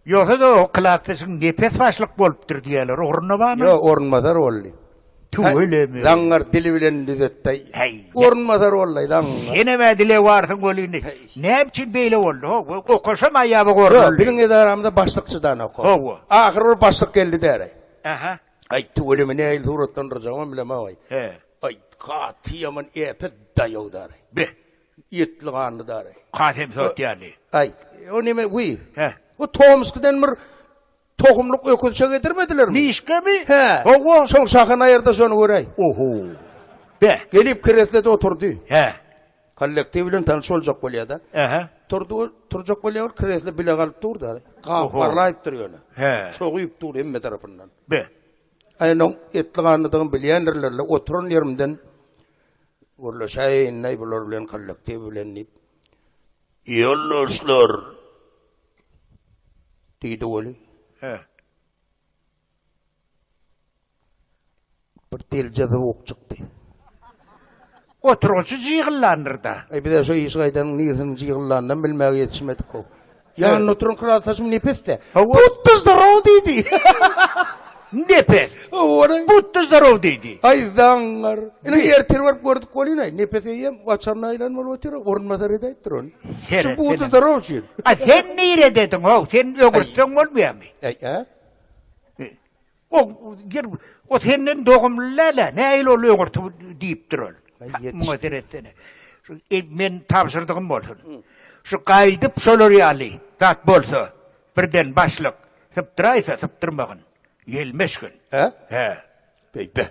Ýogsa-da o klasdaşyň nepes başlyk bolupdyr diýýärler, orunda barmy? Ýok, orunbasar boldy. Tüweleme. Zaňňar dili bilen düzetdi. Häý. Orunbasar boldy, zaňňar. Senem ä dile barsyň bol indi. Näme üçin beýle boldy? Hawa, okaşam aýaba goruldy. Ýok, biziň edaramyzda başlyk çydanok. Hawa. Ahyr bir başlyk geldi däri. Aha. Aý, tüweleme nähili suratlandyrjagymam bilemok-aý. He. Aý, gaty ýaman äpet daýaw däri. Be. Etli ganly dary. Kasem sot ýaly. Aý, o neme, wiý. Hä. O Tomskydan bir tohumlyk öküzçe getirmedilermi? Mişkemi? Hä. Hawa. Şoň şahyny aýyrda şony göräý. Oho. Be. Gelip kreslede oturdy. Hä. Kollektiw bilen tanyş boljak bolýar-da. Ähä. Turdy ol, turjak bolýar ol, kresle bile galyp dur dary. Gaparlaýyp dur ýöne. Hä. Çoguýyp dur hemme tarapyndan. Be. Aýnoň etli ganlydygyny bilýändirler-le, oturan ýerimden Gürleşäýeýinleý bular bilen kollektiw bilen diýip. Ýoldaşlar! diýdi Weli. Hä. Bir delje zowuk çykdy. Oturgyçy jygyllandyr-da. Eý, biz-ä şu işi gaýdanyň nirsini jygyllandan bilmäge ýetişmedik-ow. Ýanynda oturan klasdaşym Nepes-de, Putda zdarow diýdi. Nepes, Putda zdarow diýdi. Aý, zaňňar. Ine, ertir baryp gördük bolýun-aý. Nepes eýýäm waçanyna aýlanyp bolup otyr, orunbasar edäýipdir ony. Şu Putda zdarow üçin. A sen niredediň-ow? Sen ögürtseň bolmaýarmy? Äý-ä. O gir, o senden dogumly läle, näil ol öňürti diýipdir ol. Muňa seretsene. Şu e, men tabşyrdygym bolsun. Şu gaýdyp şolar ýaly zat bolsa, birden başlyk sypdyraýsa sypdyrmagyn. Ýelmeşgin. He? He. Beýbe.